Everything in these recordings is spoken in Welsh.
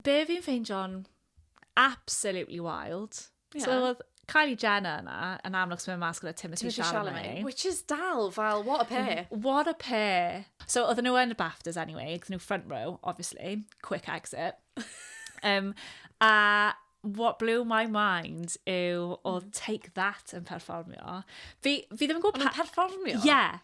Be fi'n ffeindio'n absolutely wild. Yeah. So oedd Kylie Jenner yna, yn amlwg sy'n mynd mas gyda Timothy, Timothy Chalamet. Chalamet. Which is dal fel, what a pair. Mm, what a pair. So oedd nhw yn y BAFTAs anyway, oedd nhw front row, obviously, quick exit. um, a what blew my mind yw oedd mm. Take That yn perfformio. Fi, fi ddim yn gwybod... Ond yn perfformio? Yeah.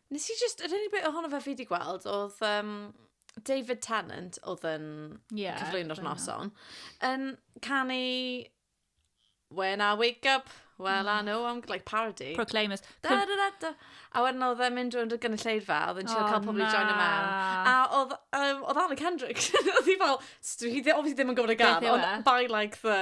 Nes i jyst, yr unig beth ohono fe fi wedi gweld oedd um, David Tennant oedd yn yeah, cyflwyno'r noson, yn canu When I Wake Up, Well I Know I'm Like Parody. Proclaimers. Da, da, da, da. A wedyn oedd e'n mynd rwy'n y gynulleidfa, oedd e'n siarad oh, cael pobl i join y mewn. A oedd, um, oedd Anna Kendrick, oedd hi fel, dwi obviously ddim yn gwybod y gan, ond e? by like the